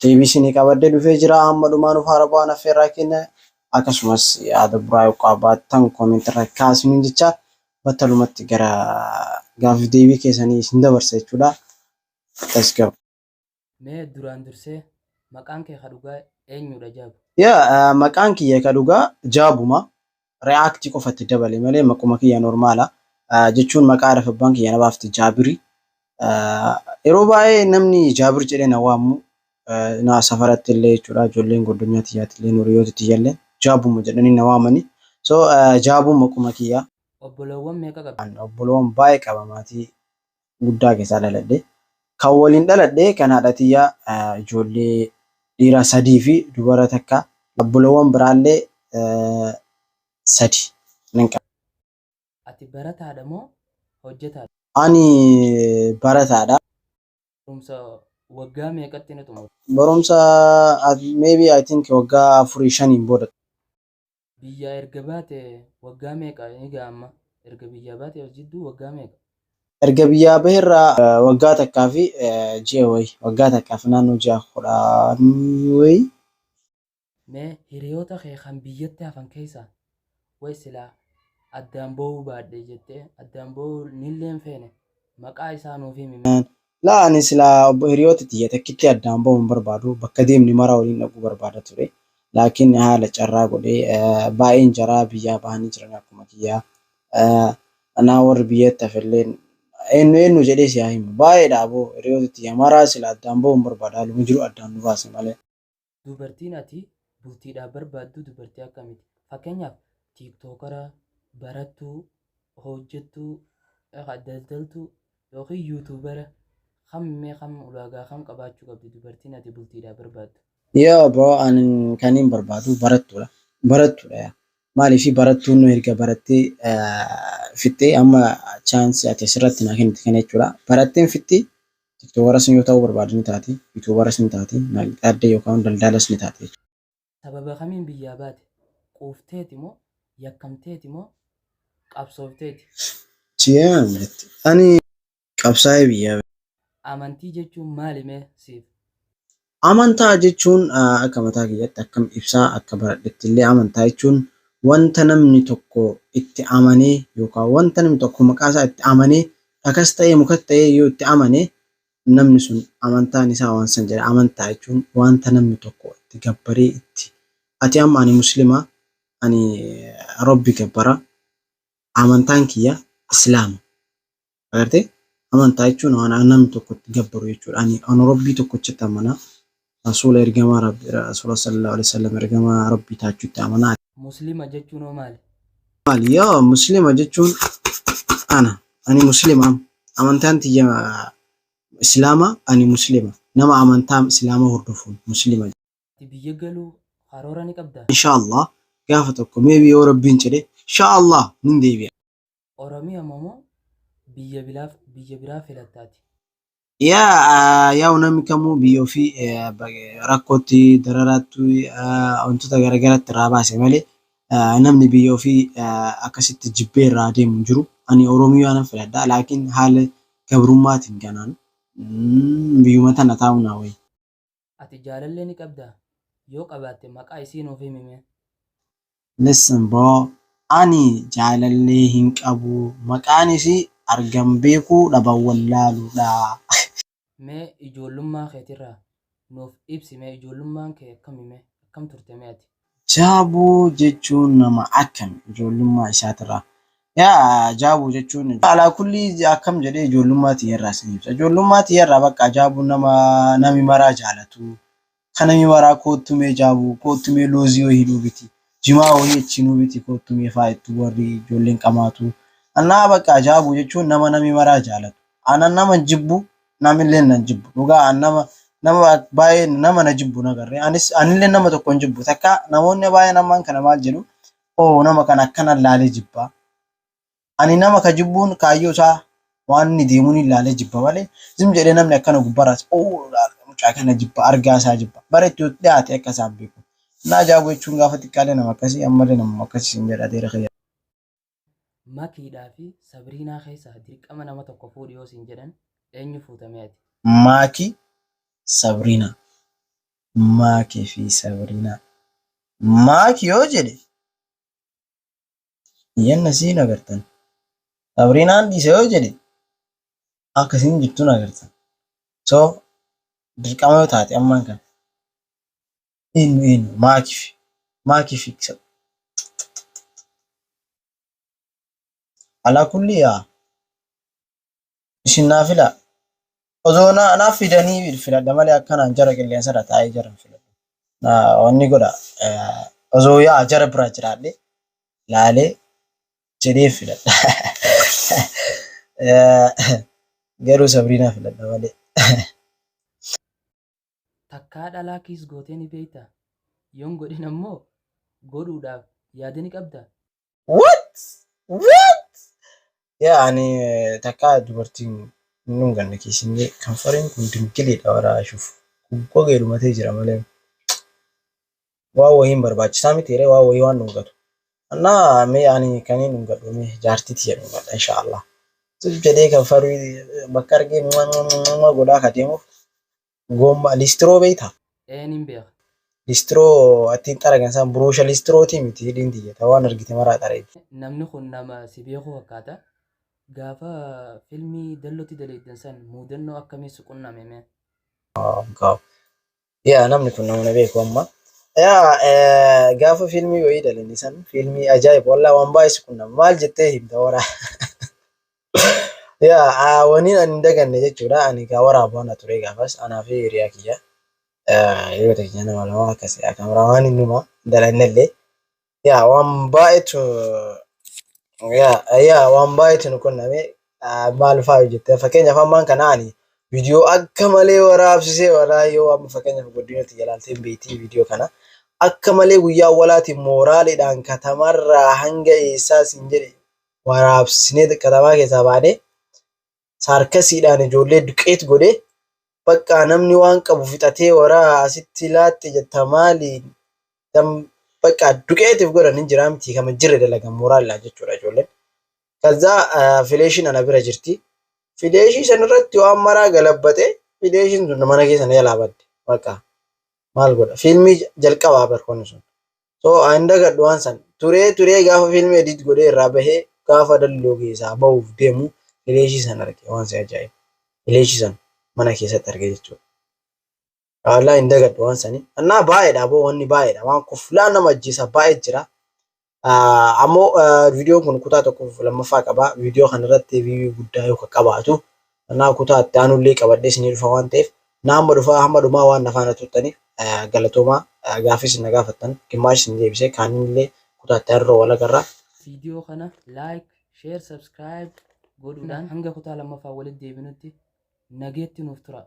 Deebii isinii qabadhee dhufee jira. Amma dhumaa nuuf haara bu'aan affeerraa keenya. Akkasumas yaada buraa yoo qabaattan comment irra kaasiniin jecha battalumatti gara gaaffiif deebii keessanii isin dabarsa jechuudha. Let's go. Mee duraan dursee maqaan kee ka dhugaa eenyuudha Jaabu? Yeah, maqaan kiyya ka dhugaa Jaabuma. react qofa itti dabale malee maquma kiyya normaala jechuun maqaa haadhaaf abbaan kiyya na baafte jaabiri yeroo baay'ee namni jaabir jedhee na waammu na safaratti illee jechuudha ijoolleen godonyaa tiyyaatti illee nuriyooti tiyyallee jaabuma jedhanii na waamani so jaabuu maquma kiyya obboleewwan meeqa qabda? obboleewwan baay'ee qaba maatii guddaa keessaa dhaladhe. Kan waliin dhaladhe kan haadha tiyyaa ijoollee dhiiraa sadii fi dubara takka obbolowwan biraallee sadi nan qaba. Ati barataadha moo hojjetaadha? Ani barataadha. Barumsa waggaa meeqatti ni xumurta? Barumsa maybe I think waggaa afurii shaniin booda xumura. Biyyaa erga baate waggaa meeqa ni ga'a amma? Erga biyyaa baate as jidduu waggaa meeqa? Erga biyyaa bahe irraa waggaa takkaa fi ji'a wayi. Waggaa takkaa fi naannoo ji'a kudhanii wayi. Mee hiriyoota kee kan biyyatti hafan keessaa wayi silaa addaan ba'uu baadhe jettee addaan ba'uu nillee hin feene maqaa isaa nuuf himi mee. Laa ani silaa obbo hiriyoota tiyya takkitti addaan bahu hin barbaadu bakka deemne maraa waliin dhaquu barbaada ture laakiin haala carraa godhee baay'een jaraa biyyaa bahanii jiranii akkuma kiyyaa anaa warri biyyatti hafelleen eennu eennu jedhee si haa himu baay'eedha aboo hiriyoota tiyya maraa sila addaan bahu hin barbaadu haaluma jiru addaan nu baase malee. Dubartiin ati bultiidhaaf barbaaddu dubartii akkamiiti? Fakkeenyaaf tiiktookara, barattuu, hojjettuu, daldaltuu yookiin yuutuubara kam mee kam ulaagaa kam qabaachuu qabdi dubartiin ati bultiidhaaf barbaaddu? Yoo bro ani kanin barbaadu barattuudha. Barattuudha yaa. Maaliif barattuun nu erga barattee fixxee amma chaansii ati asirratti naa kennite kana jechuudha. Baratteen fixxee Tiktokaras yoo ta'uu barbaade ni taati, Yutubaras ni taati, Naaqxaaddee yookaan Daldalas ni taati jechuudha. Sababa kamiin biyyaa baate? Quufteeti moo? Yakkamteeti moo? Qabsoofteeti? Chiyaan jette. Ani qabsaa'ee biyyaa bahe. Amantii jechuun maali mee siif? Amantaa jechuun akka mataa kiyyatti akkan ibsaa akka baradhetti illee amantaa jechuun wanta namni tokko itti amanee yookaan wanta namni tokko maqaa isaa itti amanee dhakas ta'ee mukas ta'ee yoo itti amane namni sun amantaan isaa waan san jedha amantaa jechuun wanta namni tokko itti gabbaree itti ati amma ani muslima ani rabbi gabbara amantaan kiyya islaama Agartee? Amantaa jechuun waan an namni tokko itti gabbaru jechuudha. Ani an Rabbii tokkochatti amana. Rasuula ergamaa Rabbi Rasuula sallallahu alaihi wasallam ergamaa Rabbii taachutti amana. Muslima jechuun hoo maali? Maali? Yoo Muslima jechuun ana. Ani Muslima am. Amantaan tiyya Islaama ani Muslima. Nama amantaa Islaama hordofuun Muslima jedhama. Ati biyya galuu karoora ni qabdaa? Inshaa Allah gaafa tokko maybe yoo Rabbiin jedhe inshaa Allah nin deebi'a. Oromiya momo biyya bilaf biyya biraa filatta ati. Yaa yaa'u namni kamuu biyya ofii rakkootti dararaatti wantoota garagaraatti irraa baase malee namni biyya ofii akkasitti jibbee irraa deemu hin jiru. Ani Oromiyaa nan filadha laakiin haala gabrummaatiin kanaan biyyuma tana taa'uu naa wayya. Ati jaalallee ni qabdaa? Yoo qabaatte maqaa isii nuuf himi mee. Listen bro ani jaalallee hin qabu maqaan isii argan beekuu dhaban wallaaluudha. Mee ijoollummaa keetirraa nuuf ibsi mee ijoollummaan kee akkami mee akkam turte mee ati. Jaaboo jechuun nama akkami ijoollummaa isaatirraa? Yaa Jaaboo jechuun ijoo. Alaa kullii akkam jedhee ijoollummaa tiyyarraa sin ibsa. Ijoollummaa tiyyarraa baqqaa Jaaboon nama nami maraa jaalatu, ka nami maraa koottu mee Jaaboo, koottu mee loozii wohii nuu biti, jimaa wohii achii nuu biti koottu mee faa jettu worri ijoolleen qamaatu. Anaa baqqaa Jaaboo jechuun nama nami maraa jaalatu. Ana naman jibbu Namilleen nan jibbu dhugaa an nama nama baay'ee nama na jibbu na garree anis anilleen nama tokko hin jibbu takka namoonni baay'een ammaan kana maal jedhu oo nama kana akkana laalee jibba ani nama ka jibbuun kaayyoo isaa waan inni deemuun hin laalee jibba malee zim jedhee namni akkana gubbaraas oo mucaa kana jibba argaa isaa jibba bara itti dhiyaate akka isaan beeku naa jaagoo jechuun gaafa xiqqaalee nama akkasii ammallee nama akkasii sin jedha deera kiyya. Makiidhaa fi Sabiriinaa keessaa dirqama nama tokko fuudhi yoo siin jedhan eenyu fuuta mee ati? Maaki, Sabiriina. Maaki fi Sabiriinaa. Maaki yoo jedhe iyyanna isii hin agartan. Sabiriinaan dhiisa yoo jedhe akka isiin jirtu hin agartan. So dirqama yoo taate ammaan kana. Eenyu eenyu maakiif maakiif iksa. Alaa kulli yaa isin naa filaa. Osoo naa naaf fidanii filadha malee akkanaan jara qilleensa irra taa'ee jara hin filadhu. Naa wanni godha eh, osoo yaa jara biraa jiraadhe laalee jedhee filadha. Eh, Garuu Sabriinaa filadha malee. Takkaa dhalaa kiss gootee ni beektaa? Yoon godhin ammoo godhuudhaaf yaada ni qabdaa? What! What! Yaa ani takkaa dubartiin hin dhunganne kiss hin jee kanfariin kun dingiliidha waraa ashuuf gogee dhumatee jira malee. Waa wohiin barbaachisaa miti ree waa wohii waan dhungatu. Annaa mee ani kaniin dhungadhu mee jaartii tiyya dhungadha insha Allah. Tuf jedhee kan faruu bakka argee mwa mwa mwa mwa godhaa ka deemuuf goomma listiroo beeyta? Ee nin beeka. Listiroo attiin xaragan san buruusha listirootii miti hidhiin tiyya ta waan argite maraa xaraydi. Namni kun nama si beeku fakkaata. Gaafa filmii Dallotti daleeydan san muudannoo akkamii si qunname mee? Wow Yaa namni kun nama na beeku amma. Yaa eh, gaafa fiilmii wayii dalini san fiilmii ajaa'iba wallaa waan baay'ee si qunnama maal jettee himta wara. Yaa ah, waniin ani hin daganne jechuudha ani gaa waraabu ana ture gaafas anaa fi hiriyaa kiyya. Eh, Hiriyoota keenya nama lama akkas kaameraa waan hin numa dalannellee. Yaa waan baay'eetu yaa yaa waan baay'eetu nu qunname Ah, maal fa'aa hojjette fakkeenyaaf ammaan kana ani viidiyoo akka malee waraabsisee waraa yoo amma fakkeenyaaf godinatti jalaaltee beektii viidiyoo kana akka malee guyyaa walaatiin mooraaliidhaan katamarraa hanga eessaa siin jedhe waraabsinee katamaa keessaa baanee saarkasiidhaan ijoollee duqeet godhe baqqaa namni waan qabu fixatee waraa asitti laaxxi jetta maali dam baqqaa duqeetiif godhan hin jiraa miti kama jirre dalagan mooraalidhaan jechuudha ijoolleen. Kazaa fileeshiin ana bira jirti. Fileeshii san irratti waan maraa galabbaxe fileeshiin sun mana keessa na jalaa badde baqqaa maal godha fiilmii jalqabaa bar konni sun So an hin dagadhu waan san. Turee turee gaafa fiilmii edit godhee irraa bahee gaafa dalloo keessaa bahuuf deemu fileeshii san arge waan si ajaa'iba. Fileeshii san mana keessatti arge jechuudha. Wallaahi hin dagadhu waan sani. Annaa baay'eedha boo wanni baay'eedha waan kuflaa nama ajjeesaa baay'ee jira. Ah, Ammoo ah, viidiyoon kun kutaa tokkoof lammaffaa qaba. Viidiyoo kanarratti viiyuu guddaa yoo qabaatu Kanaaf kutaa itti aanullee qabadhee isinii dhufa waan ta'eef na amma dhufaa hamma dhumaa waan na faana turtaniif galatoomaa gaaffii isin na gaafattan gimmaash isin deebisee kaanillee kutaa itti aanurra wal agarra. Viidiyoo kana like, share, subscribe godhuudhaan hanga kutaa lammaffaa walitti deebinutti nageetti nuuf turaa.